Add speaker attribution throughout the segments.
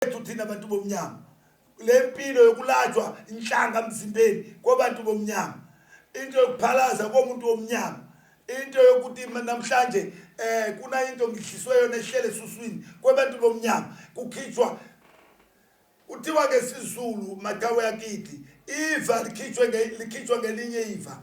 Speaker 1: kwethu thina bantu bomnyama le mpilo yokulatshwa inhlanga mzimbeni kwabantu bomnyama into yokuphalaza komuntu womnyama into yokuthi namhlanje eh kuna into ngidliswe yona ehlele suswini kwabantu bomnyama kukhitshwa kuthiwa ke sizulu matawe yakithi iva likhitshwe likhitshwa ngelinye iva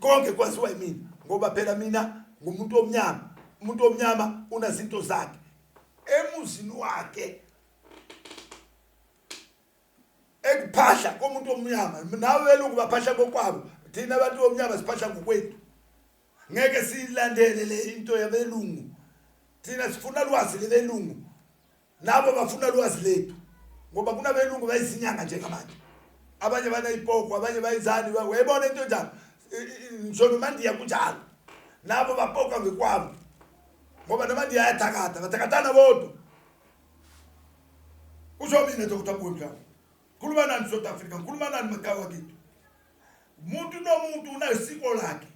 Speaker 1: Konke kwaziwa yimina ngoba phela mina ngumuntu omnyama umuntu omnyama unazinto zakhe emuzini wakhe ekuphahla komuntu omnyama nawe belungu baphahla kokwabo thina abantu omnyama siphahla ngokwethu ngeke siyilandele le into yabelungu thina sifuna lwazi lebelungu Labo bafuna lwazi lethu ngoba kunabelungu bayizinyanga njengamanje. Abanye banayipoko, abanye bayizani, wayibona into njalo. Ngisho nomandiya kunjalo. Labo bapoka ngekwabo. Ngoba namandiya ayathakatha, bathakathana bodwa. Usho mina Dr. Bundla. Khuluma nani South Africa, khuluma nani makawa kithi. Umuntu nomuntu unesiko lakhe.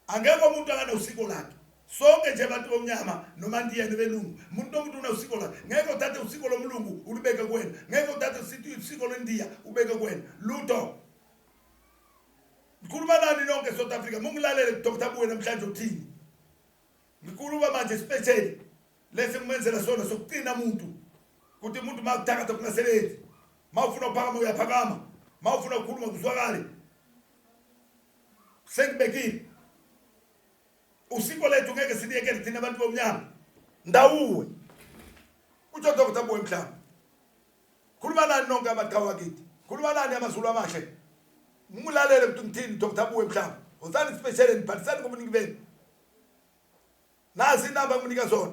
Speaker 1: Angekho umuntu akanawusiko lakhe. Sonke nje abantu bomnyama noma ndiyena belungu. Umuntu nomuntu unawusiko lakhe. Ngeke uthathe usiko lomlungu ulubeke kuwena. Ngeke uthathe usiko lwendiya ubeke kuwena. Lutho. Ngikhuluma nani nonke South Africa. Mungilalele Dr. Buwe namhlanje uthini. Ngikhuluma manje special lesi ngimenzela sona sokuqina umuntu. Kuthi umuntu makuthakatha kungasebenzi. Mawufuna ukuphakama uyaphakama. Mawufuna ukukhuluma kuzwakale. Sengibekile. Usiko lethu ngeke siliyekele thina abantu bomnyama. Ndawuwe. Utsho Dr. Boy Mhlaba. Khuluma nani nonke abaqhawa kithi. Khuluma nani amazulu amahle. Mulalele ukuthi ngithini Dr. Boy Mhlaba. Wozani special and bhalisani ngobuningi benu. Nasi inamba nginika zona.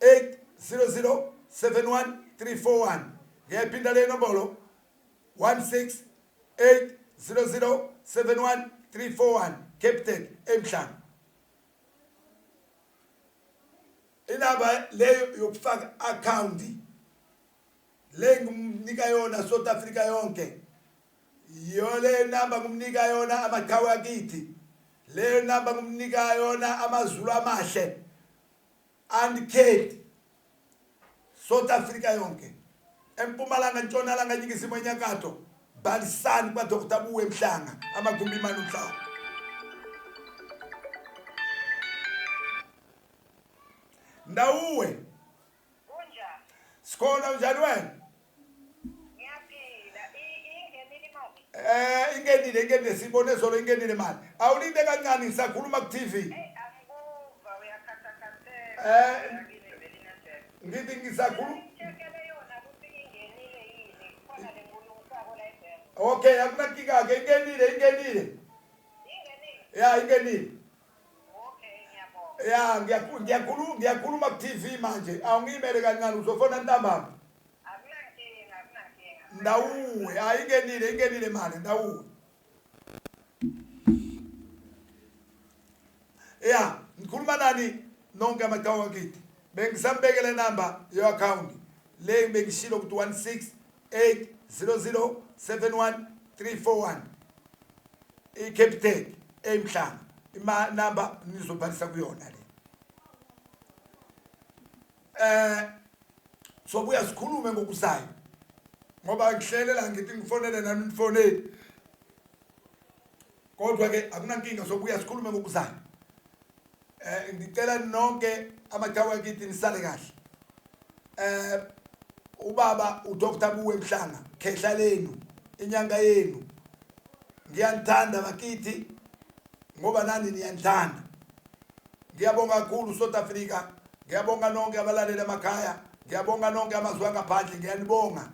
Speaker 1: 8007134 ngiyayiphinda le nombolo 1680071341 captain emhlanga inaba leyo yokufaka account le ngimnika yona South Africa yonke yiyo le namba ngimnika yona amaqhawe akithi leyo namba ngimnika yona amazulu amahle And Kate South Africa yonke empumalanga ntshonalanga nyikisimo enyakatho balisani kwa Dr Buwe Mhlanga amagumbi imani umhlaba Ndawuwe
Speaker 2: Sikhona
Speaker 1: njani wena
Speaker 2: Eh ingenile ingenile
Speaker 1: sibone zolo ingenile manje. Awulinde kancane ngisakhuluma ku TV. Eh
Speaker 2: ngithi ngisakhuluma Okay akunakika
Speaker 1: ke ingenile ingenile. Ya ingenile.
Speaker 2: ya ngiyakhuluma
Speaker 1: ngiyakhuluma ku-tv manje awungiyimele kancane uzofona ntambama ndawuwe hayi ingenile ingenile mali ndawuwe ya ngikhuluma nani nonke amatawa wakithi bengisambekele namba yo-akhawunti le bengishilo ukuthi 16 8007134 iCapitec emhlanga ima number nizobhalisa kuyona le eh sobuya sikhulume ngokuzayo ngoba ngihlelela ngithi ngifonele nami nifonele kodwa ke akunankinga sobuya sikhulume ngokuzayo eh ngicela nonke amathawa akithi nisale kahle eh ubaba uDr Buwe Mhlanga khehla lenu inyanga yenu ngiyanithanda bakithi ngoba nani niyanithanda ngiyabonga kakhulu South Africa ngiyabonga nonke abalaleli emakhaya Ngiyabonga nonke amazwi angaphandle ngiyanibonga.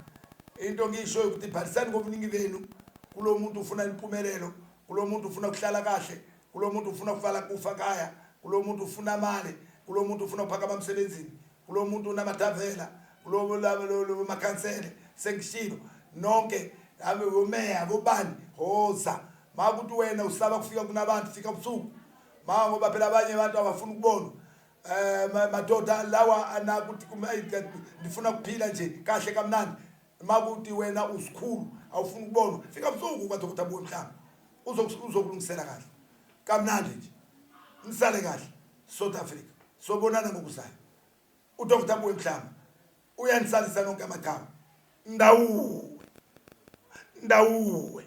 Speaker 1: Into ngiyishoyo ukuthi bhalisani kobuningi benu kulo muntu ufuna impumelelo, kulo muntu ufuna ukuhlala kahle, kulo muntu ufuna ukuvala kufa kaya, kulo muntu ufuna amali, kulo muntu ufuna ukuphakama emsebenzini, kulo muntu unamathavela, kulo makhansele sengishilo nonke abe umeya bobani hoza makuthi wena usaba kufika kunabantu fika ubusuku ma ngoba phela abanye abantu abafuni ukubonwa Eh ma- madoda lawa anakuthi kuma ayi, ka- ndifuna kuphila nje kahle kamnandi makuthi wena usikhulu awufuni ukubonwa fika busuku kwaDokotela Buwe mhlawumbe uzoku- uzokulungisela kahle kamnandi nje nisale kahle South Africa sobonana ngokuzayo uDokotela Buwe mhlawumbe uyanisalisa nonke amathawa ndawuwe ndawuwe